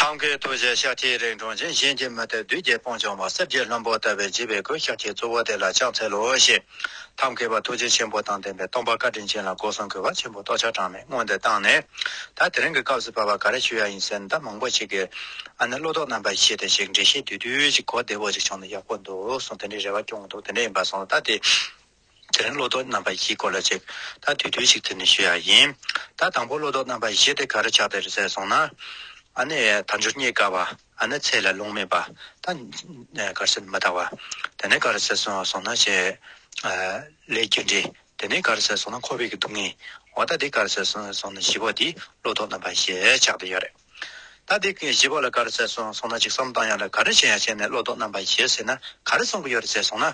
ཐབས་མཁས་རྡོ་རྗེ་ཤཱཀ་ཐའི་རིགས་འབྱུང་ཅིང་གཞན་གྱིས་མི་ལྟོས་བདུད་རྒྱལ་སྤོང་བྱང་བ་སེར་སྐྱའི་ལྷུན་པོ་ལྟ་བའི་བརྗིད་པའི་གོས་ཤཱཀ་ཐའི་གཙོ་བོ་དེ་ལ་ཕྱག་འཚལ་ལོ་ཞེས། ཐབས་མཁས་པ་ཐུགས་རྗེ་ཆེན་པོ་དང་ལྡན་པས་སྟོང་པ་བཀའ་དྲིན་ཅན་ལ་སྒོ་གསུམ་གྱི་བ་ཆེན་པོ་ཏོག་ཆར་གྲངས་མེད་སྔོན་དུ་བཏང་ནས། ད་དེ་རིང་གི་སྐབས་སུ་བབ་པ་ག་རེ་བྱུས་ཡ་ཡིན་ཟེར་ནས་ད་མང་པོ་ཞིག་གིས། ཨ་ནི་བློ་དོགས་རྣམ་པ་ཞིག་བྱས་ཏེ་ཞིག་འབྲི་ཤེས་དུས་དུས་ཀྱི་གོ་བདེ་བོ་ཅིག་བྱུང་ན་ཡག་པོ་འདུག་གསུངས་དེ་འདྲའི་རེ་བ་སྐྱོང་གི་འདུག་དེ་འདྲ་ཡིན་པ་སོང་ད་དེ། དེ་རིང་བློ་ལྡོག་རྣམ་པ་བཞིའི་སྐོར་ལ་ཅིག་ཐ་དུས་དུས་ཤིག་ཐད་ནས་ཞུ་ཡ་ཡིན། ད་དང་པོ་བློ་ལྡོག་རྣམ་པ་བཞི་དེ་ག་རུ་ཆགས་བསྡད་རེད་ཟེར་སོང་ན། ཨ་ནི་དལ་འབྱོར་རྙེད་དཀའ་བ། ཨ་ནི་ཚེ་ལ་རླུང་མེད་པ། ད་ནི་གར་སེར་མི་དག་བ། དེ་ནས་ག་རུ་ཟེར་སོང་སོང་ན། བྱེད་ལས་རྒྱུ་འབྲས། དེ་ནས་ག་རུ་ཟེར་སོང་ན་ཁོ་བོས་ཀྱི་སྡུག་བསྔལ། འོ་ད་དེ་ག་རུ་ཟེར་སོང་སོང་ན་བཞི་པོ་དེ་བློ་ལྡོག་རྣམ་པ་བཞི་ཆགས་བསྡད་ཡོད་རེད། ད་དེ་བཞི་པོ་ལ་ག་རུ་ཟེར་སོང་སོང་ན་ཅིག་བསམ་གཏང་ཡ་ལ་ག་རུ་བྱེད་ཡ་བྱས་ནས་བློ་ལྡོག་རྣམ་པ་བཞི་ཟེར་ན་ག་རུ་གསུང་གི་ཡོད་རེད་ཟེར་སོང་ན།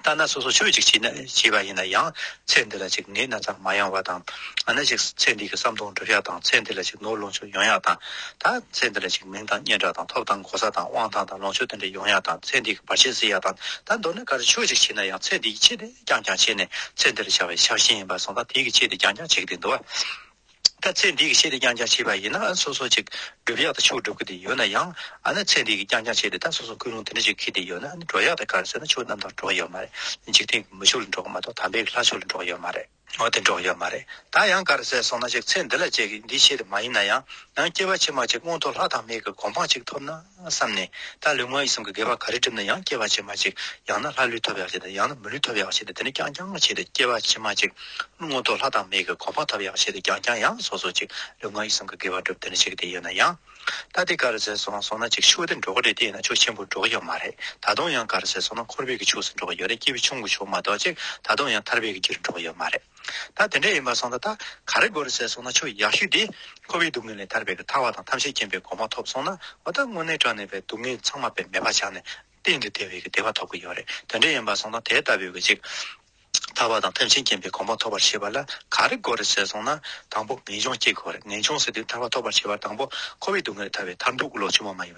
ལྟ་ན་སོ་སོ་ཆོས་ཅིག་ཅེས་བྱས་པ་ཡིན་ན་ཡང་ཚེ་འདི་ལ་ཅིག་ནད་སྣ་ཚགས་མ་ཡང་བ་དང། འང་ན་ཅིག་ཚེ་འདི་གི་བསམ་སྟོང་འགྲུབ་ཤ་དང་ཚེ་འདི་ལ་ཅིག་ནོར་ལོངས་སྤྱོད་ཡོང་ཡག་དང། ད་ཚེ་འདི་ལ་ཅིག་མིང་དང་སྙན་གྲགས་དང་ཐོབ་དང་གོ་ས་དང་དབང་ཐང་དང་ལོངས་སྤྱོད་དེ་འདྲ་ཡོང་ཡག་དང་ཚེ་འདི་གི་བར་ཆད་སེལ་ཡག་དང་ད་མདོར་ན་གར་ཆོས་ཅིག་བྱས་ན་ཡང་ཚེ་འདི་ཀྱི་ཆེད་དེ་རྐྱང་རྐྱང་བྱས་ནས་ཚེ་འདི་ལ་ཆགས་པའི་ཆགས་ཞེན་ཡིན་པ་སོང་ད་དེ་གི་ཆེད་དེ་རྐྱང་རྐྱང་བྱེད་ཀྱི་འདུག་བ། ད་ཚེ་འདིའི་ཆེད་དུ་ཀྱང་ཀྱང་བྱས་པ་ཡིན་ན་སོ་སོ་ཅིག་སྒྲུབ་ཡག་ཏུ་ཆུག་སྒྲུབ་ཀྱི་དེ་ཡོད་ན་ཡང་ཨ་ན་ཚེ་འདིའི་ཀྱང་ཀྱང་བྱས་ཏེ་ད་སོ་སོ་ཀུན་རུང་དེ་འདྲ་ཅིག་གི་དེ་ཡོད་ན་འགྲོ་ཡག་ཏུ་གར་སོན་ན་ཆུག་རྣམ་དག་འགྲོ་གི་ཡོད་མ་རེད་འཇིག་རྟེན་གྱི་མི་ཆུག་ལ་འགྲོ་གི་མ་གཏོགས་དམ་པའི་ལྷ་ཆུག་ལ་འགྲོ་གི་ཡོད་མ་རེད། འོ་དེ་འགྲོ་གི་ཡོད་མ་རེད་ད་ཡང་གར་ཟེར་སོང་ན་ཅིག་ཚེ་འདི་ལ་བྱས་ཀྱི་འདིའི་ཆེད་དུ་མ་ཡིན་ན་ཡང་ཡང་སྐྱེ་བ་ཕྱི་མ་ཅིག་སྔོན་ཐོག་ལྷ་དང་མིའི་གི་གོ་འཕང་ཅིག་ཐོབ་ན། བསམས་ནས། ད་ལུས་ངག་ཡིད་གསུམ་གྱི་དགེ་བ་ག་རེ་བསྒྲིབས་ན་ཡང་སྐྱེ་བ་ཕྱི་མ་གཅིག། ཡང་ན་ལྷ་ལུས་ཐོབ་ཡག་བྱས་ཏེ་ཡང་ན་མི་ལུས་ཐོབ་ཡག་བྱས་ཏེ་དེ་ནས་རྐྱང་རྐྱང་ངོ་ཆེ་སྟེ་སྐྱེ་བ་ཕྱི་མ་གཅིག། རླུང་ངོ་ཐོག་ལྷ་དང་མིའི་གི་གོ་འཕང་ཐོབ་ཡག་བྱས་ཏེ་རྐྱང་རྐྱང་ཡང་སོ་སོ་གཅིག། ལུས་ངག་ཡིད་གསུམ་གྱི་དགེ་བ་བསྒྲུབས་དེ་ནས་གཅིག་དེ་ཡོད་ན་ཡང། ད་དེ་ག་རེ་ཟེར་སོང་སོང་ན་གཅིག་ཆུ་བོ་དེ་འགྲོ་གི་རེད་དེ་ཡིན་ན་ཆུ་ཆེན་པོ་འགྲོ་གི་ཡོད་མ་རེད་ད་དུང་ཡང་ག་རེ་ཟེར་སོང་ན་འཁོར་བེད་ཀྱི་ཕྱུགས་སུ་འགྲོ་གི་ཡོད་རེད་སྐྱེས་བུ་ཆུང་གི་ཕྱུགས་མ་གཏོགས་གཅིག་ད་དུང་ཡང་ཐར་བེད་ཀྱི་རྒྱུར་འགྲོ་གི་ཡོད་མ་རེད། ད་དེ་འདྲ་ཡིན་པར་སོང་ད་ད་ག་རེ་དགོས་རེད་ཟེར་སོང་ན་ཆོས་ཡག་ཤོས་དེ། ཁོ་བོའི་སྡུག་བསྔལ་ལས་ཐར་བའི་གི་ཐར་བ་དང་ཐམས་ཅད་མཁྱེན་པའི་གོ་མ་ཐོབ་སོང་ན་འོ་ད་དངོས་གནས་དྲག་ནས་པའི་སྡུག་བསྔལ་ཚང་མ་པའི་མེད་པ་ཆགས་ནས་གཏན་དུ་དེ་བས་གི་བདེ་བ་ཐོབ་གི་ཡོད་རེད་དེ་འདྲ་ཡིན་པར་སོང་ད་དེ་ལྟ་བུའི་གི་ཅིག། ཐར་བ་དང་ཐམས་ཅད་མཁྱེན་པའི་གོ་མ་ཐོབ་པར་བྱེད་པ་ལ་ག་རེ་དགོས་རེད་ཟེར་སོང་ན་དང་པོ་ངེས་འབྱུང་སྐྱེ་དགོས་རེད་ངེས་འབྱུང་ཟེར་དུས་ཐར་བ་ཐོབ་པར་བྱེད་པར་དང་པོ་ཁོ་བོའི་སྡུག་བསྔལ་ལས་ཐར་བའི་ཐར་འདུག་གི་ལོག་ཆོས་མ་མ་ཡིན།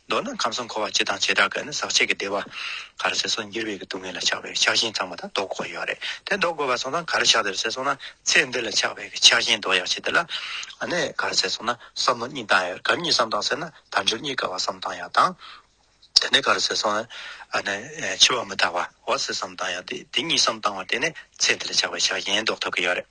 མདོར་ན་ཁམས་གསུམ་འཁོར་བ་སྤྱི་དང་བྱེ་བྲག་གི་ནི་ཟག་བཅས་ཀྱི་བདེ་བ། གར་སེལ་སོགས་འགྱུར་བའི་གི་སྡུག་བསྔལ་ལ་ཆགས་པའི་ཆགས་ཞེན་ཚང་མ་དང་ལྡོག་དགོས་ཡོད་རེད་དེ་ལྡོག་དགོས་པ་སོང་ཙང་གར་ཆགས་དེར་སེལ་སོང་ན་ཚེ་འདི་ལ་ཆགས་པའི་གི་ཆགས་ཞེན་ལྡོག་ཡག་ཆེད་དེ་ལ་ནི་གར་སེལ་སོང་ན་བསམ་བློ་གཉིས་བཏང་ཡོད་གར་གཉིས་བསམ་བཏང་ཟེར་ན་དལ་འབྱོར་གཉིས་ཀ་བ་བསམ་བཏང་ཡག་དང། དེ་ནས་གར་སེལ་སོང་ནས་ནི་འཆི་བ་མི་རྟག་པ་བ་སེལ་བསམ་བཏང་ཡག་དེ་དེ་གཉིས་བསམ་བཏང་བ་དེ་ནས་ཚེ་འདི་ལ་ཆགས་པའི་ཆགས་ཞེན་ལྡོག་ཐུབ་གི་ཡོད་རེད།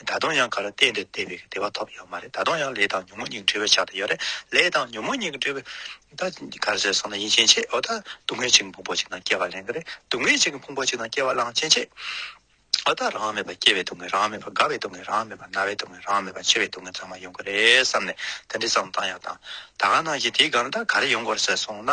ད་དུང་ཡང་ག་རེ་བལྟས་འདོད་བལྟས་པའི་བདེ་བ་ཐོབ་ཡོད་མ་རེད་ད་དུང་ཡང་ལས་དང་ཉོན་མོངས་གཉིས་འབྲེལ་བའི་ཆ་དེ་ཡོད་རེད་ལས་དང་ཉོན་མོངས་གཉིས་འབྲེལ་བའི་ད་ག་རེ་ཟེར་སོང་ན་ཡིན་ཕྱིན་ཆད་འོ་ད་སྡུག་བསྔལ་ཅིག་ཕུང་པོ་ཅིག་ན་སྐྱེ་བ་ལེན་གི་རེད་སྡུག་བསྔལ་ཅིག་ཕུང་པོ་ཅིག་ན་སྐྱེ་བ་བླངས་ཕྱིན་ཆད་འོ་ད་རང་མེད་པ་སྐྱེ་བའི་སྡུག་བསྔལ་རང་མེད་པ་རྒ་བའི་སྡུག་བསྔལ་རང་མེད་པ་ན་བའི་སྡུག་བསྔལ་རང་མེད་པ་འཆི་བའི་སྡུག་བསྔལ་ཚང་མ་ཡོང་གི་རེད་བསམ་ནས་དེ་འདྲའི་བསམ་བཏང་ཡང་བཏང་ད་ག་ནང་བཞིན་དེའི་སྒང་ད་ག་རེ་ཡོང་དགོས་རེད་ཟེར་སོང་ན།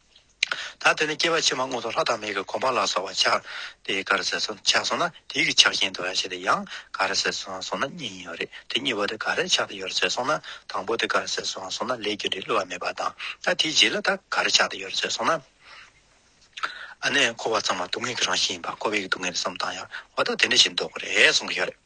ད་དེ་ནས་སྐྱེ་བ་ཕྱི་མ་སྔོན་དུ་ལྷ་དང་མིའི་གོ་འཕང་ལ་སོགས་པ་འཆར། དེ་ག་རེ་ཟེར་སོང་ཆགས་སོང་ན་དེའི་གི་ཆགས་ཞེན་དུ་ཡང་བྱེད་དེ་ཡང་ག་རེ་ཟེར་སོང་སོང་ན་གཉིས་ཡོད་རེད་དེ་གཉིས་པོ་དེ་ག་རེ་ཆགས་དེ་ཡོད་ཟེར་སོང་ན་དང་པོ་དེ་ག་རེ་ཟེར་སོང་སོང་ན་ལས་རྒྱུ་འབྲས་བསླུ་བ་མེད་པ་དང་ད་དེའི་རྗེས་ལ་ད་ག་རེ་ཆགས་དེ་ཡོད་ཟེར་སོང་ན། ཨ་ནས་འཁོར་བ་ཚང་མ་སྡུག་བསྔལ་གྱི་རང་བཞིན་ཡིན་པ་འཁོར་བའི་སྡུག་བསྔལ་གསུམ་དང་ཡང་བ་ད་དེ་འདྲ་ཞིག་འདུག་གོ་རེ་ཟུང་གི་ཡོད་རེད།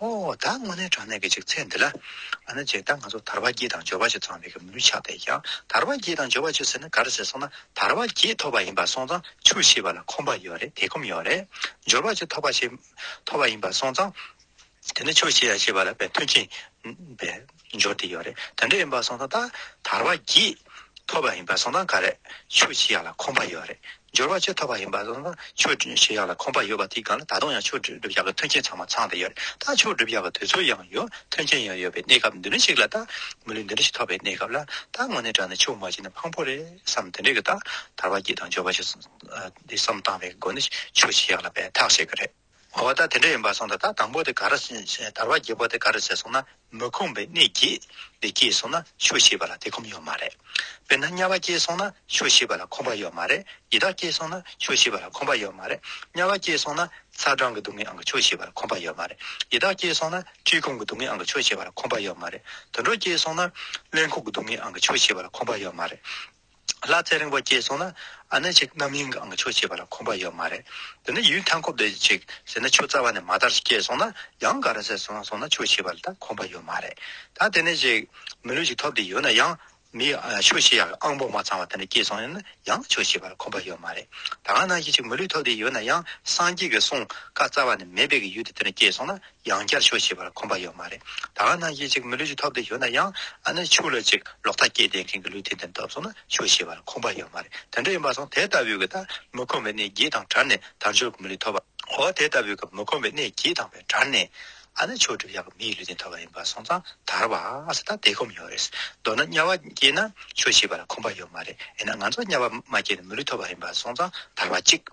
ཨོ་ད་སྔོན་ནས་དྲང་གནས་ཀྱི་ཅིག་ཚད་འདི་ལ། ཨ་ན་ཅེ་ད་ང་ཚོ་དར་བ་བརྒྱད་དང་འབྱོར་བ་བཅུ་ཚང་བའི་གི་མུའུ་ཆགས་བསྡད་ཀྱང་དར་བ་བརྒྱད་དང་འབྱོར་བ་བཅུ་ཟེར་ན་ག་རེ་ཟེར་སོང་ན་དར་བ་བརྒྱད་ཐོབ་པ་ཡིན་པ་སོང་ཙང་ཆུ་ཤེས་པ་ལ་ཁོམ་པ་ཡོད་རེད་དེ་ཁོམ་ཡོད་རེད། འབྱོར་བ་བཅུ་ཐོབ་པ་ཤེས་ཐོབ་པ་ཡིན་པ་སོང་ཙང་དེ་ནི་ཆུ་ཤེས་ཡ་ཤེས་པ་ལ་བས་མཐུན་ཁྱིན་པས། འབྱོར་དེ་ཡོད་རེད་དེ་འདྲ་ཡིན་པ་སོང་ད་ད་དར་བ་གྱིས་ཐོབ་པ་ཡིན་པ་སོང་ད་ག་རེད་ཆོས་ཆི་ཡག་ལ་ཁོམ་པ་ཡོད་རེད་འབྱོར་བ་ཆོས་ཐོབ་པ་ཡིན་པ་སོང་ད་ཆོས་ཆི་ཡག་ལ་ཁོམ་པ་ཡོད་པ་དེའི་སྒང་ལ་ད་དུང་ཡང་ཆོས་སྒྲུབ་ཡག་གི་མཐུན་རྐྱེན་ཚང་མ་ཚང་ད་ཡོད་རེད་ད་ཆོས་སྒྲུབ་ཡག་གི་དུས་ཚོད་ཡང་ཡོད་མཐུན་རྐྱེན་ཡང་ཡོད་པའི་གནས་སྐབས་འདི་འདྲ་ཞིག་ལ་ད་མི་ལུས་འདི་འདྲ་ཞིག་ཐོབ་པའི་གནས་སྐབས་ལ་ད་དངོས་གནས་དྲན་ན་ཆོས་མ་བྱས་ན་ཕངས་པོ་རེད་བསམ་དེ་འདྲ་གི་ད་དར་བ་གྱིས་དང་འབྱོར་བ་གྱིས་སོང་ད་བསམ་བཏང་བའི་སྒོ་ནས་ཆོས་ཆི་ཡག་ལ་འབད་ཐག་བྱེད་གི་རེད། བ་བ་ད་དེ་འདྲ་ཡིན་པར་གསུངས་ད་ད་དང་པོ་དེ་ག་རེ་བྱེད་དར་བ་བརྒྱད་པོ་དེ་ག་རེ་བྱེད་གསུངས་ན་མི་ཁོམ་པའི་གནས་སྐྱེས་དེ་སྐྱེས་གསུངས་ན་ཆོས་ཤེས་པ་ལ་དེ་ཁོམ་ཡོད་མ་རེད། དཔེར་ན་དམྱལ་བ་སྐྱེས་གསུངས་ན་ཆོས་ཤེས་པ་ལ་ཁོམ་པ་ཡོད་མ་རེད་ཡི་དྭགས་སྐྱེས་གསུངས་ན་ཆོས་ཤེས་པ་ལ་ཁོམ་པ་ཡོད་མ་རེད་དམྱལ་བ་སྐྱེས་གསུངས་ན་ཚ་གྲང་གི་སྡུག་བསྔལ་ཨང་གི་ཆོས་ཤེས་པ་ལ་ཁོམ་པ་ཡོད་མ་རེད་ཡི་དྭགས་སྐྱེས་གསུངས་ན་འཁྲིས་ཁུང་གི་སྡུག་བསྔལ་ཨང་གི་ཆོས་ཤེས་པ་ལ་ཁོམ་པ་ཡོད་མ་རེད་དུད་འགྲོ་སྐྱེས་གསུངས་ན་གླེན་ཁུག་གི་སྡུག་བསྔལ་ཨང་གི་ཆོས་ཤེས་པ་ལ་ཁོམ་པ་ཡོད་མ་རེད། ལ་རྩལ་རིང་པོ་སྐྱེས་སོང་ན་ཨ་ནེ་ཅིག་རྣམ་གཡེང་གི་ཨང་ཆོས་བྱེད་པ་ལ་ཁོམ་པ་ཡོད་མ་རེད་དེ་ནས་ཡུན་ཐང་ཁོབ་བསྡད་ཅིག་ཟེར་ན་ཆུ་རྩ་བ་ནས་མ་དར་ཞིག་སྐྱེས་སོང་ན་ཡང་ག་རེ་ཟེར་སོང་སོང་ན་ཆོས་བྱེད་པ་ལ་ད་ཁོམ་པ་ཡོད་མ་རེད་ད་དེ་ནས་ཅིག་མི་ལུས་ཅིག་ཐོབ་བསྡད་ཡོད་ན་ཡང་མི་ཆོས་བྱེད་ཡག་གི་ཨང་པོ་མ་ཚང་བ་དེ་འདྲ་སྐྱེས་སོང་ཡོད་ན་ཡང་ཆོས་བྱེད་པ་ལ་ཁོམ་པ་ཡོད་མ་རེད་ད་ག་ནང་བཞིན་ཅིག་མི་ལུས་ཐོབ་བསྡད་ཡོད་ན་ཡང་སངས་རྒྱས་ཀྱི་གསུང་བཀའ་རྩ་བ་ནས་མེད་པའི་གི་ཡུལ་དེ་དེ་འདྲ་སྐྱེས་སོང་ན་ཡང་བསྐྱར་ཆོས་བྱེད་པར་ཁོམ་པ་ཡོད་མ་རེད། ད་ག་ནང་གི་ཅིག་མི་ལུས་ཅིག་ཐོབ་དེ་ཡོད་ན་ཡང་ཨ་ནི་ཆུ་ལ་ཅིག་ལོག་ཐ་སྐྱེད་ལྡན་མཁན་གྱི་ལུས་དེ་འདི་འདབ་སོང་ན་ཆོས་བྱེད་པར་ཁོམ་པ་ཡོད་མ་རེད་དེ་འདྲ་ཡིན་པ་སོང་དེ་ལྟ་བུའི་གི་ད་མི་ཁོམ་པའི་ནས་གྱིས་དང་བྲལ་ནས་དར་མཆོད་གི་མི་ལུས་ཐོབ་པ་འོ་དེ་ལྟ་བུའི་གི་མི་ཁོམ་པའི་ནས་གྱིས་དང་བས་བྲལ་ནས་ཨ་ནི་ཆོས་སྒྲུབ་ཡག་གི་མིའི་ལུས་དེ་ཐོབ་པ་ཡིན་པ་སོང་ཙང་དར་བ་སི་ད་དེ་ཁོམ་ཡོད་རེད་མདོར་ན་དམྱལ་བ་སྐྱེས་ན་ཆོས་བྱེད་པར་ཁོམ་པ་ཡོད་མ་རེད་ཨེ་ན་ང་ཚོ་དམྱལ་བ་མ་སྐྱེས་ན་མི་ལུས་ཐོབ་པ་ཡིན་པ་སོང་ཙང་དར་བ་ཅིག།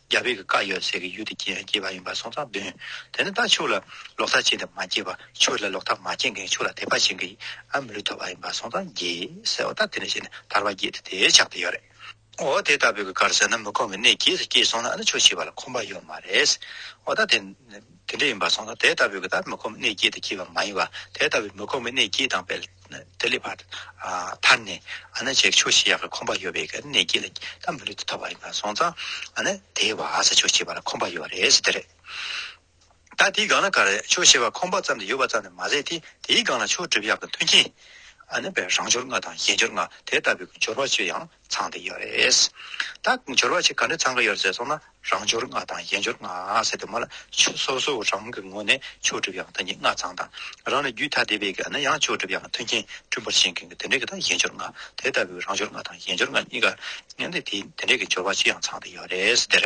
རྒྱ་བོད་ཀྱི་བཀའ་ཡོད་ཟེར་གི་ཡུལ་དུ་སྐྱེས་སྐྱེས་པ་ཡིན་པར་སོང་ཙང་བདུན། དེ་ནི་ད་ཕྱུགས་ལ་ལོག་ལྟ་བྱས་ཏེ་མ་སྐྱེས་པར་ཕྱུགས་ལ་ལོག་ལྟ་མ་བྱས་མཁན་ཕྱུགས་ལ་དད་པ་བྱེད་མཁན་ཨ་མི་ལུས་ཐོབ་པ་ཡིན་པར་སོང་ཙང་རྒྱས་ཟེར་བ་ལྟར་དེ་ནས་བཤད་ནས་ཐར་བ་རྒྱས་ཏེ་དེའི་ཕྱག་ཏུ་ཡོད་རེད། འོ་དེ་ལྟ་བུའི་གི་གར་ཟེར་ན་མི་ཁོམ་གི་གནས་རྒྱས་སུ་སྐྱེས་སོང་ན་ཨ་ནི་ཆོས་བྱེད་པ་ལ་ཁོམ་པ་ཡོད་མ་རེད། འོ་ད་དེ། དེ་འདྲ་ཡིན་པར་སོང་ན་དེ་ལྟ་བུའི་ལྟར་མི་ཁོམ་གནས་སྐྱེས་དེ་སྐྱེས་པ་མ་ཡིན་བར་དེ་ལྟ་བུའི་མི་ཁོམ་གྱི་གནས་སྐྱེས་དང་དཔལ་དེ་ལས་བར་ཐར་ནས་ཨ་ན་བྱེད་ཆོག་ཤེས་ཡག་གི་ཁོམ་པ་ཡོད་པའི་གནས་སྐྱེས་ལ་ད་མི་ལུས་དེ་ཐོབ་པ་ཡིན་པར་སོང་ཙང་ཨ་ན་དེའི་བར་བྱེད་ཆོག་ཤེས་པ་ལ་ཁོམ་པ་ཡོད་རེད་ཟེར་དེ་རེད། ད་དེའི་སྒང་ལ་གར་ཆོག་ཤེས་པ་ཁོམ་པ་ཙམ་དེ་ཡོད་པ་ཙམ་ལས་མ་ཟད་དེ་དེའི་སྒང་ལ་ཆོག་སྒྲུབ་ཡག་གི་མཐུན་རྐྱེན་ཨ་ན་བས་རང་སྦྱོར་ལྔ་དང་གཞན་སྦྱོར་ལྔ་དེ་ལྟ་བུའི་སྦྱོར་བ་བཅུ་ཡང་ཚང་དེ་ཡོད་རེད། ད་འབྱོར་བ་ཆེ་ག་འདྲ་ཚང་གི་ཡོད་ཟེར་སོང་ན་རང་འབྱོར་ལྔ་དང་གཞན་འབྱོར་ལྔ་ཟེར་དེ་མ་ལ་ཆུ་སོ་སོ་རང་གི་ངོས་ནས་ཆོས་སྒྲུབ་ཡང་ཐ་སྙད་ལྔ་ཚང་དང་རང་ལས་རྒྱུད་ཐ་དད་པའི་གནས་ཡང་ཆོས་སྒྲུབ་ཡང་མཐུན་རྐྱེན་བསྐྲུན་པར་བྱེད་མཁན་གྱི་དེ་འདྲས་ཀྱི་དང་གཞན་འབྱོར་ལྔ་དེ་ལྟ་བུའི་རང་འབྱོར་ལྔ་དང་གཞན་འབྱོར་ལྔ་གཉིས་ཀ་ངན་དེ་དེ་འདྲས་ཀྱི་འབྱོར་བ་ཆེ་ཡང་ཚང་དེ་ཡོད་རེད་ཟེར།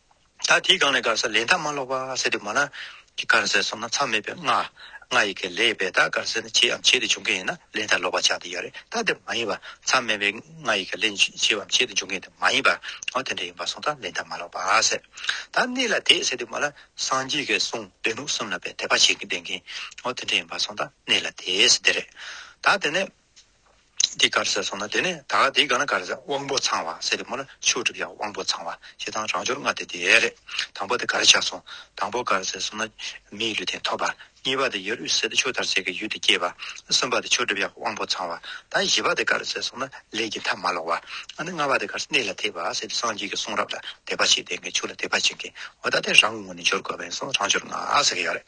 ད་དེའི་སྒང་ནས་དཀར་ཟས་ལས་མཐའ་མ་ལོག་པ་ཟེར་དུས་མ་ལ་གི་དཀར་ཟས་སོང་ན་མཚམས་མེད་པའི་ང། ང་ཡི་གེ་ལས་བས་ད་དཀར་ཟས་ནི་བྱེད་འམ་བྱེད་དུ་འཇུག་མཁན་ཡིན་ན་ལས་མཐའ་ལོག་པ་ཆགས་དེ་ཡོད་རེད་ད་དེ་མ་ཡིན་པར་མཚམས་མེད་པའི་ང་ཡི་གེ་ལས་བྱེད་འམ་བྱེད་དུ་འཇུག་མཁན་དེ་མ་ཡིན་པར་ང་དེ་འདྲ་ཡིན་པར་སོང་ད་ལས་མཐའ་མ་ལོག་པ་ཟེར། ད་གནས་ལ་དེད་ཟེར་དུས་མ་ལ་སངས་རྒྱས་ཀྱི་གསུང་འདོད་ལུགས་གསུམ་ལ་བས་དད་པ་བྱེད་ཀྱི་བསྡད་མཁན་ང་དེ་འདྲ་ཡིན་པར་སོང་ད་གནས་ལ་དེད་ཟེར་དེ་རེད། ད་དེ་ནས། འདི་གར་ཟེར་སོང་ན་དེ་ནས་ད་ག་འདི་ག་ན་ག་རེ་ཟེར་དབང་པོ་ཚང་བ་ཟེར་དེ་མོ་ལ་ཆུ་བསྒྲིབས་ཡག་དབང་པོ་ཚང་བ་ཞེ་སྡང་རང་སྦྱོར་ལྔ་དེ་དེ་རེད་དང་པོ་དེ་ག་རེ་ཆགས་སོང་དང་པོ་ག་རེ་ཟེར་སོང་ན་མི་ཡི་ལུས་དེ་འཐོབ་པ་གཉིས་པ་དེ་ཡར་དབུས་ཟེར་དེ་ཆུ་དར་ཟེར་གྱི་ཡུལ་དེ་སྐྱེས་པ་གསུམ་པ་དེ་ཆུ་བསྒྲིབས་ཡག་དབང་པོ་ཚང་བ་ད་བཞི་པ་དེ་ག་རེ་ཟེར་སོང་ན་ལས་ཀྱི་མཐའ་མ་ལོག་བ་ཨ་ནི་ལྔ་པ་དེ་ག་རེ་གནས་ལ་དེད་པ་ཟེར་དེ་སངས་རྒྱས་ཀྱི་གསུང་རབ་ལ་དད་པ་བྱེད་དེ་གངས་ཆུ་ལ་དད་པ་བྱེད་མཁན་བ་ད་དེ་རང་ངོ་ནས་སྦྱོར་དགོས་པ་ཡིན་སོང་རང་སྦྱོར་ལྔ་ཟེར་གྱི་ཡོད་རེད།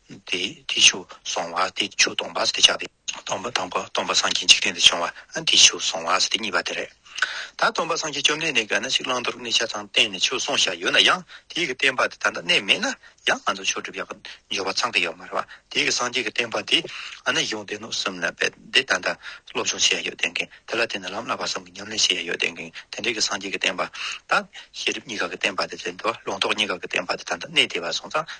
དེ་ཆུ་སོང་བ་དེ་ཆུ་སྟོང་པ་སྟེ་ཆགས་ཏེ། སྟོང་པ་དང་པོ་སྟོང་པ་སངས་རྒྱས་འཇིག་རྟེན་དུ་བྱུང་བ་དེ་ཆུ་སོང་བ་སྟེ་གཉིས་པ་དེ་རེད། ད་སྟོང་པ་སངས་རྒྱས་བཅོམ་ལྡན་འདས་གང་ན་ཞིག་བླང་དོར་གནས་ཆ་ཚང་བསྟན་ནས་ཆུ་སོང་བྱ་ཡོད་ན་ཡང་དེའི་གི་བསྟན་པ་དེ་ད་ལྟ་གནས་མེད་ན་ཡང་ང་ཚོ་ཆོས་སྒྲུབ་ཡག་གི་འབྱོར་བ་ཚང་གི་ཡོད་མ་རེད་བ་དེའི་གི་སངས་རྒྱས་གི་བསྟན་པ་དེ་གང་ན་ཡོང་བསྟན་ནོ་གསུམ་ན་དཔེ་དེ་ད་ལྟ་སློབ་སྦྱོང་བྱེད་ཡ་ཡོད་བསྟན་གིན་དེ་ལ་བརྟེན་ནས་ལམ་བསླབ་པ་གསུམ་གི་ཉམས་ལེན་བྱེད་ཡ་ཡོད་བསྟན་གིན་དེ་འདྲའི་གི་སངས་རྒྱས་གི་བསྟན་པ་དང་ཤེས་རིག་གཉིས་ཀ་གི་བསྟན་པ་དེ་དེ་འདུལ་བླང་དོར་གཉིས་ཀ་གི་བསྟན་པ་དེ་ད་ལྟ་གནས་བདེ་བ་སོང་ཙང་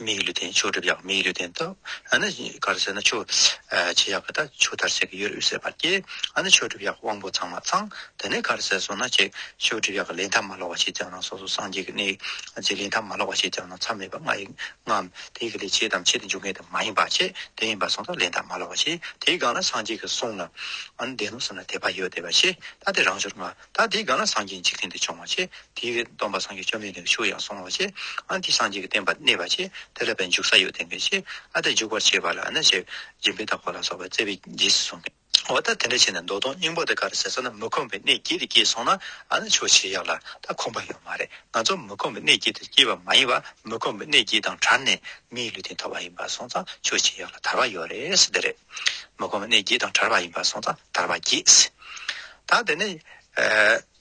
མིག་གི་ལུས་རྟེན་ཆོས་སྒྲིབ་ཡང་མིག་གི་ལུས་རྟེན་ཏོ། ཨ་ནི་གར་ཟེར་ན་ཆོས་བྱེད་ཡག་གི་ད་ཆོས་དར་ཟེར་གི་ཡོད་དབུས་སེ་བར་སྐྱེ། ཨ་ནི་ཆོས་སྒྲིབ་ཡག་དབང་པོ་ཚང་མ་ཚང། དེ་ནས་གར་ཟེར་སོང་ན་ཅིག་ཆོས་སྒྲིབ་ཡག་གི་ལས་མཐའ་མ་ལོག་བ་བྱེད་ཀྱང་ན་སོ་སོ་སངས་རྒྱས་ཀྱི་གནས་ཀྱི་ལས་མཐའ་མ་ལོག་བ་བྱེད་ཀྱང་ན་མཚམས་མེད་པ་ལྔ་ཡི་ལྔའམ་དེ་ཡི་ལས་བྱེད་དམ་བྱེད་དུ་འཇུག་ངེས་དམ་མ་ཡིན་པ་བྱེད་དེ་ཡིན་པ་སོང་ད་ལས་མཐའ་མ་ལོག་བ་བྱེད་དེའི་སྒང་ལ་སངས་རྒྱས་ཀྱི་གསུང་ལ་ཨ་ནི་བདེན་ནོ་ཟེར་ན་དད་པ་ཡོད་དད་པ་བྱེད་ད་དེ་རང་ཞོར་ང་ད་དེའི་སྒང་ལ་སངས་རྒྱས་འཇིག་རྟེན་དུ་བྱུང་བ་ཆེ། དེའི་རིགས་སྡོམ་པ་སངས་རྒྱས་བཅོམ་ལྡན་འདས་ཀྱི་ཆོས་ཡང་གསུང་བ་ཆེ། ཨ་འདི་སངས་རྒྱས་ཀྱི་བསྟན་པ་གནས་པ་ཆེ། དེ་ལ་བས་འཇུག་ས་ཡོད་དེ་འགས་ཆེ། ཨ་ད་འཇུག་པར་བྱེད་པ་ལ་ནི་ཆེ། སྦྱིན་པའི་བདག་པོ་ལ་སོགས་པ་བརྩེ་བས་རྗེས་སུ་བཟུང། འོ་ད་དེ་འདྲ་བྱས་ནས་མདོ་སྟོང་སྙིང་པོ་དེ་ག་རེ་ཟེར་ས་ན་མི་ཁོམ་པའི་གནས་སྐྱེས་དེ་སྐྱེས་སོང་ན་ཨ་ན་ཆོས་བྱེད་ཡག་ལ་ད་ཁོམ་པ་ཡོད་མ་རེད་ང་ཚོ་མི་ཁོམ་པའི་གནས་སྐྱེས་དེར་སྐྱེས་པ་མ་ཡིན་པ་མི་ཁོམ་པའི་གནས་སྐྱེས་དང་བྲལ་ནས་མིའི་ལུས་རྟེན་ཐོབ་པ་ཡིན་པ་སོང་ཙང་ཆོས་བྱེད་ཡག་ལ་དར་བ་ཡོད་རེད་ས་དེ་རེད། མི་ཁོམ་གནས་བརྒྱད་དང་བྲལ་བ་ཡིན་པར་གསུངས་ཙང་ཐར་བར་གྱིས། ད་དེ་ནས།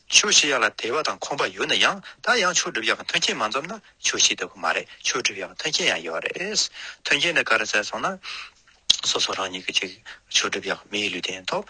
ཆོས་ཤེས་ཡག་ལ་དད་པ་དང་ཁོམ་པ་ཡོད་ན་ཡང་ད་ཡང་ཆོས་སྒྲུབ་ཡག་གི་མཐུན་རྐྱེན་མ་འཛོམས་ན་ཆོས་ཤེས་ལྟ་བུ་མ་རེད་ཆོས་སྒྲུབ་ཡག་གི་མཐུན་རྐྱེན་ཡང་ཡོད་རེད། མཐུན་རྐྱེན་དེ་ག་རེ་བཙལ་སོང་ན། སོ་སོ་རང་ཉིད་ཀྱིས་ཅིག་ཆོས་སྒྲུབ་ཡག་མིའི་ལུས་རྟེན་ཐོག་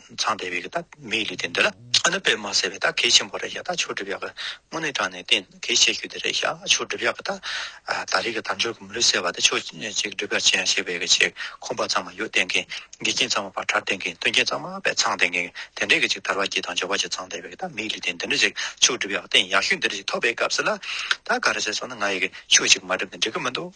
ཚངས་དེ་བས་ཀྱི་ད་མིའི་ལུས་དེ་འདི་ལ་ཨ་ནུ་པས་མ་བསད་པའི་ད་གེགས་ཆེན་པོ་རེད་ཤག་ད་ཆོས་སྒྲུབ་ཡག་གི་སྔོན་ནས་དྲངས་ནས་དེ་གེགས་བྱེད་རྒྱུ་དེ་རེད་ཤག་ཆོས་སྒྲུབ་ཡག་གི་ད་ད་རེས་ཀྱི་དམ་ཆོས་ཀྱི་མི་ལུས་བསད་པ་དེ་ཆོས་ཅིག་སྒྲུབ་ཡག་བྱེད་ཡང་བྱེད་པའི་ཀྱི་ཆེད་ཁོམ་པ་ཙམ་མ་ཡོད་བསྟན་མཁན་དགེ་རྒན་ཙམ་མ་བར་གྲྭར་བསྟན་མཁན་སྟོན་མཁན་ཙམ་མ་བས་ཚངས་དེ་མཁན་དེ་འདྲས་ཀྱི་ཅིག་དར་བ་སྐྱིད་དང་འབྱོར་བ་སྐྱིད་ཚངས་དེ་བས་ཀྱི་ད་མིའི་ལུས་དེ་འདི་འདྲས་ཅིག་ཆོས་སྒྲུབ་ཡག་བསྟན་ཡག་ཤུགས་འདི་འདྲས་ཅིག་ཐོབ་པའི་སྐབས་སུ་ལ་ད་ག་རེ་བྱས་སོང་ན་ང་ཡི་ཀྱི་ཆོས་ཅིག་མ་སྒྲུབ་ནས་འགྲིག་གི་མི་འདུག།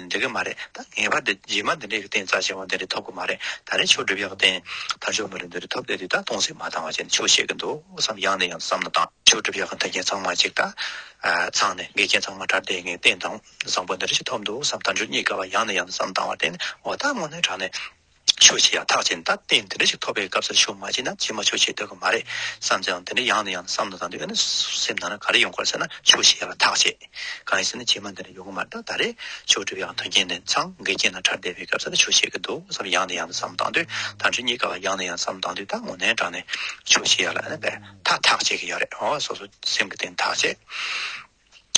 འགྲིག་གི་མ་རེད་ད་ངེས་པར་དུ་རྗེས་མ་འདི་འདྲའི་སྟེང་རྩ་ཆེན་པོ་འདི་འདྲ་ཐོབ་གི་མ་རེད་ད་རེས་ཆོས་སྒྲུབ་ཡག་སྟེང་དར་ཅོག་མི་རེ་འདི་རེ་ཐོབ་སླད་དུས་ད་དུང་ཟིན་མ་བཏང་བ་བྱས་ནས་ཆོས་བཤད་གི་འདུག་བསམ་ཡང་ནས་ཡང་དུ་བསམ་ན་དང་ཆོས་སྒྲུབ་ཡག་གི་མཐུན་རྐྱེན་ཚང་མ་གཅིག་ད་ཚང་ནས་འགལ་རྐྱེན་ཚང་མ་དར་དེ་ངས་སྟེང་དང་བཟང་པོ་འདི་འདྲ་ཞིག་ཐོབ་འདུག་བསམ་དར་ཅོག་གཉིས་ཀ་བ་ཡང་ནས་ཡང་དུ་བསམ་བཏང་བ་བརྟེན་ནས་འོ་ད་སྔོན་ནས་དྲག་ནས། ཆོས་བྱེད་ཡང་ཐག་བཅད་ད་ལྟའི་འདི་འདྲ་ཞིག་ཐོབ་པའི་སྐབས་སུ་ཆོས་མ་བྱས་ན་ཇི་མ་ཆོས་བྱས་སྡོད་ཀྱི་མ་རེད་བསམ་ཙང་འདི་འདྲ་ཡང་ནས་ཡང་བསམ་དང་དང་དུ་ཡོད་ན་སེམས་ནང་ན་ག་རེ་ཡོང་གོ་ཟེར་ན་ཆོས་བྱེད་ཡག་ལ་ཐག་བཅད་གང་ཡིན་ཟེར་ན་ཇི་མ་འདི་འདྲ་ཡོང་གི་མ་རེད་ད་ད་རེས་ཆོས་སྒྲུབ་ཡག་དོན་རྐྱེན་ནས་ཚང་འགལ་རྐྱེན་ན་ཕྲ་བསྡད་པའི་སྐབས་སུ་ད་ཆོས་བྱེད་ཀྱི་འདུག་བསམ་ཡང་ནས་ཡང་བསམ་དང་དུ་ད་འདྲི་ཉེས་ཀ་བ་ཡང་ནས་ཡང་བསམ་དང་དུ་ད་ངོ་ནན་དྲག་ནས་ཆོས་བྱེད་ཡག་ལ་ཨ་ན་པས་ད་ཐག་བཅད་ཀྱི་ཡོད་རེད་ཨོ་སོ་སོ་སེམས་ཀྱི་སྟེང་ཐག་བཅད།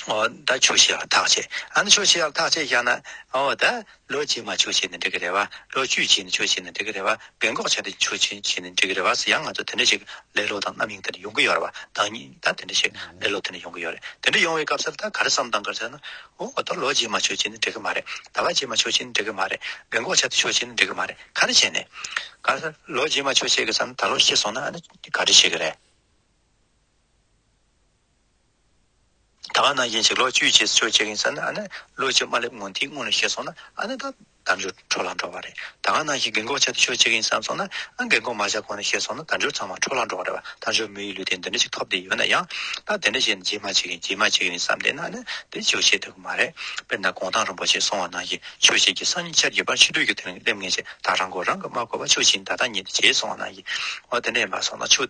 ད་ཆོས་ཤེས་ལ་ཐག་བཅད་ཨ་ནི་ཆོས་ཤེས་ལ་ཐག་བཅད་བཞག་ན་འོ་ད་ལོ་རྗེས་མ་ཆོས་བྱས་ནས་འགྲིག་གི་རེད་བ་ལོ་བཅུའི་རྗེས་ནས་ཆོས་བྱས་ནས་འགྲིག་གི་རེད་བ་རྒན་འགོག་བྱས་ནས་ཆོས་བྱས་ནས་འགྲིག་གི་རེད་བ་སུ་ཡང་ང་ཚོ་དེ་འདྲ་ཞིག་ལེ་ལོ་དང་རྣམ་གཡེང་དེ་འདྲ་ཡོང་གི་ཡོད་རེད་བ་བདག་ཉིད་ད་དེ་འདྲ་ཞིག་ལེ་ལོ་དེ་འདྲ་ཡོང་གི་ཡོད་རེད་དེ་འདྲ་ཡོང་བའི་སྐབས་སུ་ད་ག་རེ་བསམ་དང་ག་རེ་བསམ་ན་འོ་ད་ལོ་རྗེས་མ་ཆོས་བྱས་ནས་འགྲིག་གི་མ་རེད་ད་བ་རྗེས་མ་ཆོས་བྱས་ནས་འགྲིག་གི་མ་རེད་རྒན་འགོག་བྱས་ཏེ་ཆོས་བྱས་ནས་འགྲིག་གི་མ་རེད་ག་རེ་བྱས་ནས་ག་རེ་ལོ་རྗེས་མ་ཆོས་བྱས་གི་བསམ་ན་ད་ལོ་ཤི་སོང་ན་ཨ་ནི་ག་རེ་བྱེད་གི་རེད། ད་ག་ནང་བཞིན་བྱས་ལོ་བཅུའི་རྗེས་སུ་ཆོས་བྱེད་གིན་ས་ན་ཨ་ནེ་ལོ་བཅུ་མ་སླེབས་སྔོན་དེའི་སྔོན་ལ་ཤེས་སོང་ན་ཨ་ནེ་ད་དམ་འབྱོར་འཕྲོ་ལ་འགྲོ་བ་རེད་ད་ག་ནང་བཞིན་རྒན་གོག་བྱས་ཏེ་ཆོས་བྱེད་གིན་བསམ་སོང་ན་ཨ་རྒན་གོག་མ་བྱ་གོང་ནས་ཤེས་སོང་ན་དམ་འབྱོར་ཚང་མ་འཕྲོ་ལ་འགྲོ་བ་རེད་བ་དམ་འབྱོར་མི་ཡི་ལུས་སྟེང་འདི་འདྲ་ཞིག་ཐོབ་བསྡད་ཡོད་ན་ཡང་ད་དེ་འདྲ་བྱས་ནས་རྗེས་མ་བྱེད་གིན་རྗེས་མ་བྱེད་གིན་བསམ་བསྡད་ན་ཨ་ནེ་འདི་ཆོས་བྱེད་བསྡད་དགོས་མ་རེད་དཔེར་ན་དགོངས་དག་རིན་པོ་ཆེ་སོང་བ་ནང་བཞིན་ཆོས་བྱེད་ཀྱི་སང་ཉིན་ཆར་གྱི་བར་ཕྱི་དྲོའི་གི་དེ་རིང་སླེབས་ངེས་ཞེས་ད་རང་མགོ་རང་གིས་མ་བསྐོར་བར་ཆོས་བྱེད་ད་ལྟ་ཉིན་དེ་བྱས་སོང་བ་ནང་བཞིན་འོ་དེ་འདྲ་ཡིན་པ་སོང་ན་ཆོས་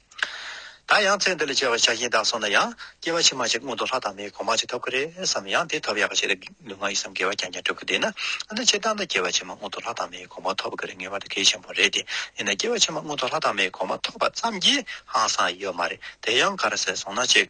ད་ཡང་ཚེ་འདི་ལ་སྐྱེ་བ་ཆགས་ཞེན་དག་སོང་ན་ཡང་སྐྱེ་བ་ཕྱི་མ་ཞིག་སྔོན་དུ་ལྷ་དང་མིའི་གོང་མ་ཞིག་ཐོབ་ཀྱི་རེད་བསམ་ཡང་དེ་ཐོབ་ཡག་གི་ཆེད་དུ་ལུས་ངག་ཡིད་གསུམ་དགེ་བ་རྐྱང་རྐྱང་བསྒྲུབ་ཀྱི་བསྡད་ན་འདི་ཕྱིར་བཏང་ད་སྐྱེ་བ་ཕྱི་མ་སྔོན་དུ་ལྷ་དང་མིའི་གོང་མ་ཐོབ་ཀྱི་རེད་ངེས་པར་དུ་གལ་ཆེན་པོ་རེད་དེ་ཡིན་ན་སྐྱེ་བ་ཕྱི་མ་སྔོན་དུ་ལྷ་དང་མིའི་གོང་མ་ཐོབ་པ་ཙམ་གྱིས་ཧང་སང་ཡོད་མ་རེད་དེ་ཡང་ག་རེ་ཟེར་སོང་ན་གཅིག།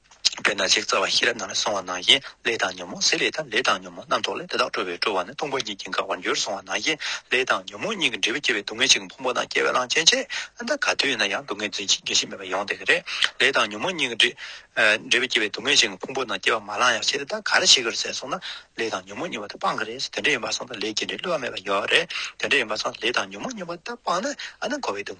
དཔེར་ན་ཅེག་རྩ་བ་ཤེས་རབ་ནང་ལ་སོང་བ་ན་ཡིན་ལས་དང་ཉོན་མོངས་ཟད་ལས་དང་ལས་དང་ཉོན་མོངས་རྣམ་རྟོག་ལས་དེ་དག་སྤྲོ་བས་སྤྲོ་བ་ནི་སྟོང་པ་ཉིད་ཀྱིས་འགགས་པར་འགྱུར་སོང་བ་ན་ཡིན་ལས་དང་ཉོན་མོངས་གཉིས་ཀྱི་འབྲས་བུ་སྐྱེ་བའི་སྡུག་བསྔལ་གཅིག་ཕུང་པོ་དང་སྐྱེ་བའི་གླང་ཆེན་ཆེ་ད་ག་དུས་ཡིན་ན་ཡང་སྡུག་བསྔལ་རྫུན་ཅིག་འགེགས་ཤིང་མེད་པར་ཡོང་དེ་ག་རེ། ལས་དང་ཉོན་མོངས་གཉིས་ཀྱི་འབྲས་བུ་སྐྱེ་བའི་སྡུག་བསྔལ་གཅིག་ཕུང་པོ་དང་སྐྱེ་བ་མ་ལང་ཡང་ཆེ་ད་ག་རེ་བྱེད་ཀྱི་རེད་ཟེར་སོང་ན་ལས་དང་ཉོན་མོངས་གཉིས་པ་ད་སྤངས་ཀྱི་རེད་དེ་འདྲ་ཡིན་པར་སོང་ད་ལས་ཀྱི་འབྲས་བསླུ་བ་མེད་པར་ཡོད་རེད་དེ་འདྲ་ཡིན་པར་སོང་ད་ལས་དང་ཉོན་མོངས་གཉིས་པ་ད་སྤངས་ན་ཨ་ན་འཁོར་བའི་སྡུག་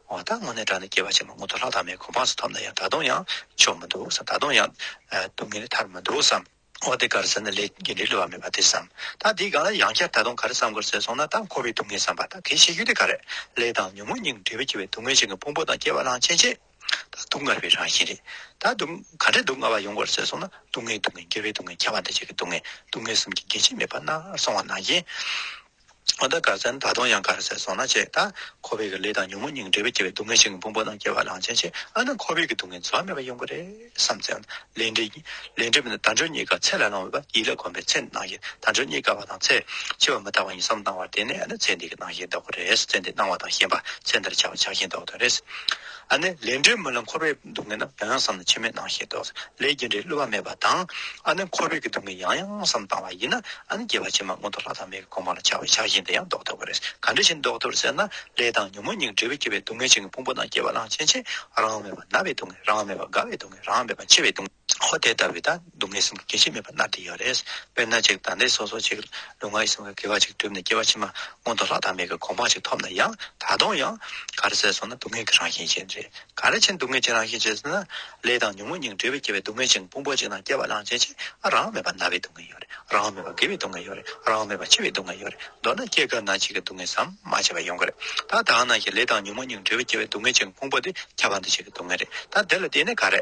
མ་དག་དངོས་གནས་དགྲ་ནི་སྐྱེ་བ་ཆེན་པོ་སྔོན་དུ་ལྷག་དང་མེད་གོ་འཕངས་སུ་ཐོབ་ན་ཡང་ད་དུང་ཡང་ཆོག་མི་འདུག་བསམ་ད་དུང་ཡང་སྡུག་བསྔལ་ལས་ཐར་མི་འདུག་བསམ། འོ་དེ་གར་ཟེར་ན་ལས་ཀྱི་འབྲས་ལུས་བ་མེད་པ་དེ་བསམ། ད་དེའི་སྒང་ལ་ཡང་བསྐྱར་ད་དུང་ག་རེ་བསམ་དགོས་ཟེར་སོང་ན་ད་འཁོར་བའི་སྡུག་བསྔལ་བསམ་པ་ད་གལ་ཆེ་རྒྱུ་དེ་ག་རེ། ལས་དང་ཉོན་མོངས་གཉིས་ཀྱི་འབྲས་བུས་བསྐྱེད་པའི་སྡུག་བསྔལ་ཆེན་གྱི་ཕུང་པོ་དང་སྐྱེ་བ་རང་ཆེན་ཆེ། ད་སྡུག་བསྔལ་བའི་རང་བཞིན་རེད། ད་སྡུག། ག་འདྲའི་སྡུག་བསྔལ་བ་ཡོང་དགོས་ཟེར་སོང་ན་སྡུག་བསྔལ་སྡུག་བསྔལ་སྐྱེ་བའི་སྡུག་བསྔལ་ཁྱད་པར་འདི་བྱེད་ཀྱི་སྡུག་བསྔལ་སྡུག་བསྔལ་གསུམ་གྱི་འགལ་བྱེད་མེད་པ་ན་སོང་བ་ན་ཡིན། ཨ་ད་ག་ས་ནི་ད་དུང་ཡང་ག་རེ་ཟེར་སོང་ན་བྱས་ད་ཁོ་བོས་ཀྱི་ལས་དང་ཉོན་མོངས་སྙིང་འབྲེལ་པས་སྐྱེ་བའི་སྡུག་བསྔལ་ཞིང་ཕུང་པོ་རྣམས་སྐྱེ་བ་ལང་ཆེན་ཆེ་ཨ་ན་ཁོ་བོས་ཀྱི་སྡུག་བསྔལ་འཚོ་བ་མེད་པ་ཡོང་གི་རེད་བསམ་ཚེ་ལས་འབྲས་ལས་འབྲས་དང་སྦྱོར་གཉིས་ཀ་ཚད་ལ་སླང་བས་པ་ཡིད་ལ་གོམས་པའི་ཚེ་ནང་བཞིན་དང་སྦྱོར་གཉིས་ཀ་བ་དང་ཚེ་འཆི་བ་མི་རྟག་པ་ཡིན་བསམ་སྣང་བ་དེ་ནི་ཨ་ན་ཚེ་འདི་གི་སྣང་ཞེན་ལྡོག་གི་རེད་ཚེ་འདི་སྣང་བ་དང་ཞེན་པ་ཚེ་འདིར་ཆགས་པ་ཆགས་ཞེན་ལྡོག་གི་རེད་ཨ་ནི་ལས་འབྲས་མི་སླང་ཁོ་བོས། སྡུག་བསྔལ་ན་བོན་བསམ་ན་འཆི་མེད་སྣང་ཞེས་དོགས་ཟེར་ལས་རྒྱུ་འབྲས་བསླུ་བ་མེད་པ་དང། ཨ་ནི་ཁོ་བོས་ཀྱི་སྡུག་བསྔལ་ཡང་ཡང་བསམ་བཏང་བ་ཡིན་ན་ཨ་ནི་རྒྱལ་བ་ཕྱི་མ་སྔོན་དུ་ལྷ་དང་མི་གི་གོང་མ་ལ་ཆགས་པའི་ཆགས་ཞེན་དེ་ཡང་བཟློག་ཐུབ་པ་རེད་ག་འདྲ་ཞིག་བཟློག་ཐུབ་ཟེར་ན་ལས་དང་ཉོན་མོངས་གཉིས་འབྲེལ་བས་སྐྱེ་བའི་སྡུག་བསྔལ་ཆིངས་ཀྱི་ཕུང་པོ་དང་སྐྱེ་བ་གླང་ཆེན་ཆེ་རང་མེད་པ་ན་བའི་སྡུག་བསྔལ་རང་མེད་པ་རྒ་བའི་སྡུག་བསྔལ་རང་མེད་པ་འཆི་བའི་སྡུག། ཧོ་དེ་ལྟ་བུའི་དང་སྡུག་བསྔལ་གསུམ་གྱི་སྐྱེ་མཆེད་མེད་པར་མནར་གྱི་ཡོད་རེད། དཔེར་ན་ཅིག་དང་དེ་སོ་སོ་ཅིག་ལུས་ངག་ཡིད་གསུམ་ག་དགེ་བ་ཅིག་བསྒྲུབས་ནས་སྐྱེ་བ་ཕྱི་མ་མངོན་དུ་ལྷག་དང་མེད་ཀྱི་གོང་མ་ཅིག་ཐོབ་ན་ཡང་ད་དུང་ཡང། ག་རེ་ཟེར་སོང་ན་སྡུག་བསྔལ་གྱི་རང་བཞིན་ཅན་རེད། ག་རེ་ཕྱིར་སྡུག་བསྔལ་གྱི་རང་བཞིན་ཅན་ཟེར་ན། ལས་དང་ཉོན་མོངས་གཉིས་ཀྱི་འབྲེལ་བས་སྐྱེ་བའི་སྡུག་བསྔལ་ཅན་གྱི་ཕུང་པོ་ཅིག་དང་སྐྱེ་བ་གླང་ཆེན་ཅིག་ཨ་རང་མེད་པར་ན་བའི་སྡུག་བསྔལ་ཡོད་རེད་རང་མེད་པར་དགེ་བའི་སྡུག་བསྔལ་ཡོད་རེད་རང་མེད་པར་འཆི་བའི་སྡུག་བསྔལ་ཡོད་རེད་མདོར་ན་སྐྱེ་སྐབས་ན་འཆི་ཁའི་སྡུག་བསྔལ་ཟམ་མ་ཆད་པ་ཡོང་གི་རེད་ད་ད་ནང་བཞིན་ལས་དང་ཉོན་མོངས་གཉིས་ཀྱི་འབྲེལ་བས་སྐྱེ་བའི་སྡུག་བསྔལ་ཅན་གྱི་ཕུང་པོ་དེ་ཁྱབ་པ་འདི་བྱེད་ཀྱི་སྡུག་བསྔལ་རེད་ད་དེ་ལ་བརྟེན་ནས་ག་རེ་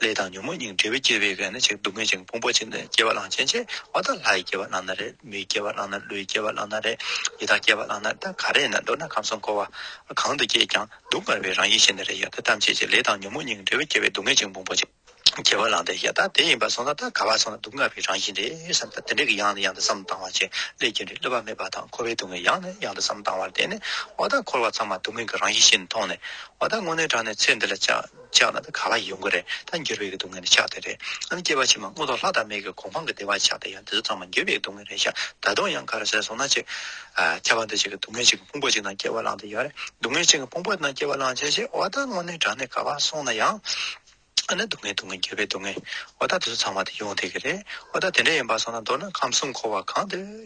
ལས་དང་ཉོན་མོངས་སྙིང་འབྲེལ་བས་བསྐྱེད་པའི་གནས་ཆེ་གེ་སྡུག་བསྔལ་ཅིང་ཕུང་པོ་ཆེ་གནས་སྐྱེ་བ་གླང་ཆེན་ཆེ་བ་དང་ལྷའི་སྐྱེ་བ་བླངས་ན་རེ་མིའི་སྐྱེ་བ་བླངས་ན་ཀླུའི་སྐྱེ་བ་བླངས་ན་རེ་ཡི་དྭགས་སྐྱེ་བ་བླངས་ན་རེ་ག་རེ་ན་འདོད་ན་ཁམས་གསུམ་འཁོར་བ་གང་དུ་སྐྱེས་ཀྱང་སྡུག་བསྔལ་བའི་རང་ཡིད་ཤེས་ན་རེ་ཡི་དྭགས་ཐམས་ཅད་ཀྱི་ལས་དང་ཉོན་མོངས་སྙིང་འབྲེལ་བས་བསྐྱེད་པའི་སྡུག་བསྔལ་ཅིང་ཕུང་པོ་ཆེ་གེ་བ་བླངས་ཏེ་ཡི་དྭགས་དེ་ཡིན་པར་སོང་ན་རྟ་ག་བ་སོང་ན་སྡུག་བསྔལ་བའི་རང་བཞིན་རེ་བསམས་ཏེ་དེ་འདྲ་གི་ཡང་ནས་ཡང་དུ་བསམ་བཏང་བ་ཅིག་ལས་རྒྱུ་འབྲས་བསླུ་བ་མེད་པ་དང་འཁོར་བའི་སྡུག་བསྔལ་ཡང་ནས་ཡང་དུ་བསམ་བཏང་བར་བརྟེན་ནས་འོ་ད་འཁོར་བ་ཚང་མ་སྡུག་བསྔལ་གྱི་རང་བཞིན་ཤེས་ནས་མཐོང་ནས་འོ་ད་དངོས་གནས་དྲང་ནས་ཚེ་འདི་ལ་ཅི་ཆགས་ན་ད་ག་ལ་ཡོང་གི་རེད་ད་འགྱུར་བའི་སྡུག་བསྔལ་ནི་ཆགས་དེ་རེད་ཨ་ནི་སྐྱེས་པ་ཕྱི་མ་སྔོན་ཐོག་ལྷ་དང་མི་གི་གོ་འཕང་གི་བདེ་བ་ཆགས་དེ་ཡང་དེ་ཚོ་ཚང་མ་འགྱུར་བའི་སྡུག་བསྔལ་རེད་ཤག་ད་དུང་ཡང་ག་རེ་བྱས་སོང་ན་ཅིག། ཁྱད་པར་འདི་གཅིག་གི་སྡུག་བསྔལ་གཅིག་གི་ཕུང་པོ་གཅིག་ནང་སྐྱེ་བ་བླངས་དེ་ཡོད་རེད་སྡུག་བསྔལ་གཅིག་གི་ཕུང་པོ་ནང་སྐྱེ་བ་བླངས་བྱས་བྱས་འོ་ད་དངོས་གནས་དྲང་གནས་ག་བར་སོང་ན་ཡང། ཨ་ནི་སྡུག་བསྔལ་སྡུག་བསྔལ་འགྱུར་བའི་སྡུག་བསྔལ་འོ་ད་དེ་ཚོ་ཚང་མ་དེ་ཡོང་དེ་གི་རེད་འོ་ད་དེ་འདྲ་ཡིན་པ་སོང་ན་མདོར་ན་ཁམས་གསུམ་འཁོར་བ་གང་དུ།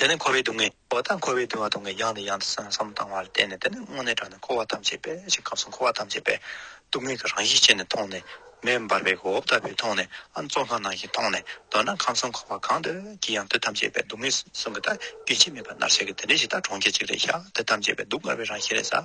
དེ་ནི་འཁོར་བའི་སྡུག་བསྔལ་བ་དང་འཁོར་བའི་བདེ་བ་སྡུག་བསྔལ་ཡང་དང་ཡང་དུ་སེམས་སམ་བཏང་བ་ལ་བརྟེན་ནས་དེ་ནི་སྔོན་གནས་དྲངས་ནས་འཁོར་བ་ཐམས་ཅད་པས་ཞེས་སྐབས་སུ་འཁོར་བ་ཐམས་ཅད་པའི་སྡུག་བསྔལ་གྱི་རང་བཞིན་ཅན་ནས་མཐོང་ནས། མེ་འབར་བའི་འོབས་ལྟ་བུས་མཐོང་ནས་ཨ་མཚོ་ལྷ་ནང་བཞིན་མཐོང་ནས་མདོར་ན་ཁམས་གསུམ་འཁོར་བ་གང་དུ་ཀྱི་ཡང་དུས་ཐམས་ཅད་པའི་སྡུག་བསྔལ་གསུམ་གྱི་དགེ་བྱེད་མེད་པ་མནར་བྱ་གི་དེ་འདྲའི་གཞི་བདག་གྲོང་ཁྱེར་གཅིག་ལས་ཤཱཀ་དེ་ཐམས་ཅད་པའི་སྡུག་བསྔལ་བའི་རང་བཞིན་རེ་ས།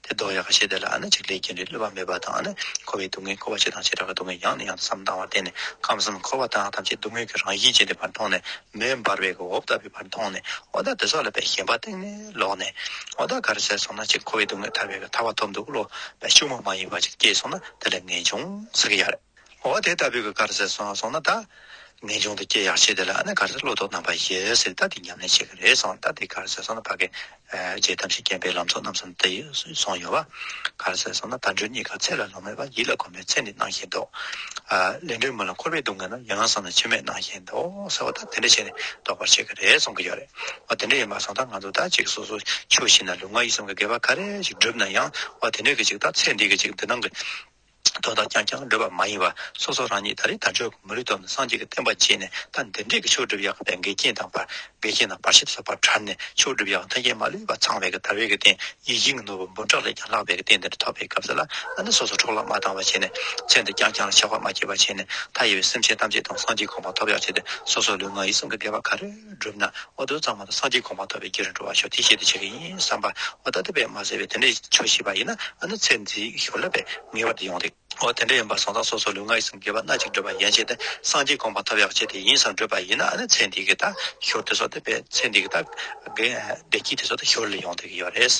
དེ་ལྡོག་ཡག་གི་ཤེས་ལྡན་ལ་ཨ་ན་ཅིག་ལས་རྒྱུན་རིང་གློད་པ་མེད་པ་དང། འཁོར་བའི་སྡུག་བསྔལ་འཁོར་བ་ཆེ་དང་ཆེ་དྲགས་ཀྱི་སྡུག་བསྔལ་ཡང་ནས་ཡང་དུ་བསམ་དྭངས་བར་བརྟེན་ནས་ཁམས་གསུམ་འཁོར་བ་དང་ཐམས་ཅད་སྡུག་བསྔལ་གྱི་རང་བཞིན་ཅན་དེ་བར་མཐོང་ནས་མེ་འབར་བས་འོབས་ལྟ་བུའི་བར་མཐོང་ནས་ཨོ་ད་དེ་སྲོག་ལ་བས་ཞེན་པ་སྟེང་ནས་ལོག་ནས། ཨོ་ད་ག་རེ་ཟས་སོང་ན་ཅིག་འཁོར་བའི་སྡུག་བསྔལ་ཐར་བས་ག་ཐར་བ་ཐོབ་འདུག་གློད་པ་ཕྱུག་མོ་མ་ཡིན་པ་ཅིག་སྐྱེས་སོང་ན་དེ་ལས་ངན་བྱུང་ཟེར་གྱི་ཡ་རེད། འོ་དེ་ལྟ་བུའི་གི་གར་ཟེར་སོང་སོང་ན་ད། ངེས་འབྱུང་དུ་སྐྱེ་ཡག་ཆེ་དེ་ལ་ཨ་ནི་གར་ཟེར་བློ་དོགས་རྣམ་པ་ཡེ་སེར་ད་དེ་ཉམས་ལེན་བྱེད་གི་རེད་སོང་ད་དེ་གར་ཟེར་སོང་ན་ཕ་གི། རྗེ་ཐམས་ཅད་མཁྱེན་པའི་ལམ་ཚོགས་རྣམས་སོང་དེ་སོང་ཡོད་བ། གར་ཟེར་སོང་ན་དལ་འགྲོས་གཉིས་ཀ་ཚད་ལ་ལོངས་མེད་པ་ཡིད་ལ་གོམས་པའི་ཚད་ནི་སྣང་ཞེན་འདོག། ལས་འབྲས་མུ་ལ་འཁོར་བས་སྡུག་བསྔལ་ན་ཡང་ཡང་སོང་ན་ཕྱི་མས་སྣང་ཞེན་འདོག་ཟེར་བ་ད་དེ་འདྲ་བྱས་ནས་ལྡོག་པར་བྱེད་གི་རེད་སོང་གི་ཡོད་རེད། འོ་དེ་འདྲ་ཡིན་པ་སོང་ད་ང་ཚོ་ད་ཅིག་སོ་སོ་ཆོས་བཞིན་ན་ལུས་ངག་ཡིད་གསུམ་གི་དགེ་བ་ག་རེ་ཞིག་བསྒྲུབས་ན་ཡང་འོ་དེ་འདྲའི་གི་ཅིག་ད་ཚེ་འདིའི་གི་ཅིག་འདི་སྣང་གི། དོན་དག་ཀྱང་ཀྱང་བསྒྲུབ་པ་མ་ཡིན་པར་སོ་སོ་རང་ཉིད་ད་རེས་ད་ཆོས་ཀྱི་མུ་རི་དོར་ནས་སངས་རྒྱས་ཀྱི་བསྟན་པ་བརྗེད་ནས་ད་འདི་འབྲས་ཀྱི་ཆོས་སྒྲུབ་ཡག་པའི་འགལ་རྐྱེན་དང་བར་འགལ་རྐྱེན་དང་བར་ཞིབ་བཟོ་བར་གྲར་ནས་ཆོས་སྒྲུབ་ཡག་མཐའ་རྒྱན་མ་ལུས་པ་ཚང་བའི་གི་ད་བའི་གི་རྟེན་ཡིད་བཞིན་གྱི་ནོར་བུ་འབུམ་ཕྲག་ལས་ཀྱང་ལྷག་པའི་གི་རྟེན་འདི་འདྲ་ཐོབ་པའི་སྐབས་སུ་ལ་ཨ་ནི་སོ་སོ་འཕྲོག་བརླག་མ་བཏང་བ་བྱས་ནས་ཚེ་འདི་ཀྱང་ཀྱང་ལ་ཆགས་པ་མ་སྐྱེས་པ་བྱས་ནས་མཐའ་ཡས་པའི་སེམས་ཅན་ཐམས་ཅད་དང་སངས་རྒྱས་གོང་མ་ཐོབ་ཡག་བྱས་ཏེ་སོ་སོ་ལུས་ངག་ཡིད་གསུམ་གྱི་བདེ་བ་ག་རེ། བསྒྲུབས་ན་ཨོ་དོད་གཙང་མ་དང་སངས་རྒྱས་གོང་མ་ཐོབ་པའི་རྒྱུ་རུ་འགྲོ་བར་ཤོག་དེའི་ཆེད་དུ་བྱས་པ་ཡིན་བསམ་པ། འོ་ད་ལྟ་བས་མ་ཟེར་བས་དེ་འདྲའི་ཆོས་ཤེས་པ་ཡིན་ན་ཨ་ནུ་ཚེ་འདི་ཞོར་ལ་བས་ངེས་པར་དུ་ཡོང་སྟེ། འོ་དེ་འདྲ་ཡིན་པ་སོང་ཙང་སོ་སོ་ལུས་ངག་ཡིད་གསུམ་དགེ་བ་སྣ་གཅིག་བསྒྲུབས་པ་ཡན་ཆད་དེ་སངས་རྒྱས་གོང་མ་ཐོབ་ཡག་བྱས་དེ་ཡིན་བསམ་བསྒྲུབས་པ་ཡིན་ན་ཨ་ནུ་ཚེ་འདི་གི་ད་ཞོར་དེ་སོགས་དེ་བས་ཚེ་འདི་གི་ད་བདེ་སྐྱིད་དེ་སོགས་དེ་ཞོར་ལ་ཡོང་སྟེ་གི་ཡོད་རེད།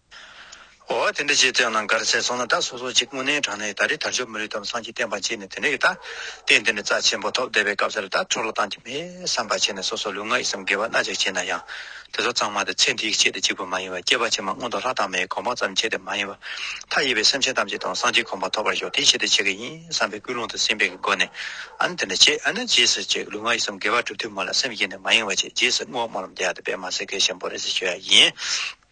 འོ་དེ་འདྲ་ཅིག་བསྟན་ན་འགར་ཟས་སོང་ན་ད་སོ་སོ་ཅིག་དངོས་གནས་དྲང་གནས་ད་རེས་དར་ཅོ་མི་རིགས་དམ་སངས་ཀྱི་བསྟན་པ་བརྗེད་ནས་དེ་འདྲ་གི་ད་བསྟན་དེ་འདྲ་རྩ་ཆེན་པོ་ཐོབ་བསྡད་པའི་སྐབས་སར་ད་ཁྲོ་ལོ་བཏང་གི་མེད་བསམ་པ་བྱས་ནས་སོ་སོ་ལུས་ངག་ཡིད་གསུམ་དགེ་བ་སྣ་གཅིག་བྱས་ན་ཡང་དེ་ཚོ་གཙང་མ་དེ་ཚེ་འདིའི་ཆེད་དུ་གཅིག་པུ་མ་ཡིན་བར་སྐྱེས་པ་ཕྱི་མ་སྔོན་དུ་ལྷ་དང་མིའི་གོ་འཕང་ཙམ་ཆེད་དུ་མ་ཡིན་བར་མཐའ་ཡས་པའི་སེམས་ཅན་ཐམས་ཅད་དང་སངས་རྒྱས་གོ་འཕང་ཐོབ་པར་ཤོག་དེའི་ཆེད་དུ་བྱེད་ཀྱི་ཡིན་བསམ་པའི་ཀུན་སློང་དུ་སེམས་པས་ཀྱི་སྒོ་ནས་ཨཱ་ན་དེ་འདྲ་བྱེད་ཨཱ་ན་རྗེས་སུ་བྱེད་ལུས་ངག་ཡིད་གསུམ་དགེ་བ་བསྒྲུབ་དུས་མོ་ལ་སེམས་གཡེང་ནས་མ་ཡེངས་བ་བྱེད་རྗེས་སུ་བསྔོ་སྨོན་ལམ་འདི་ཡག་ཏུ་སྤེལ་མ་ཟེར་སྐད་ཆེན་པོ་རེ་ཟེར་ཤོད་ཡ་ཡིན།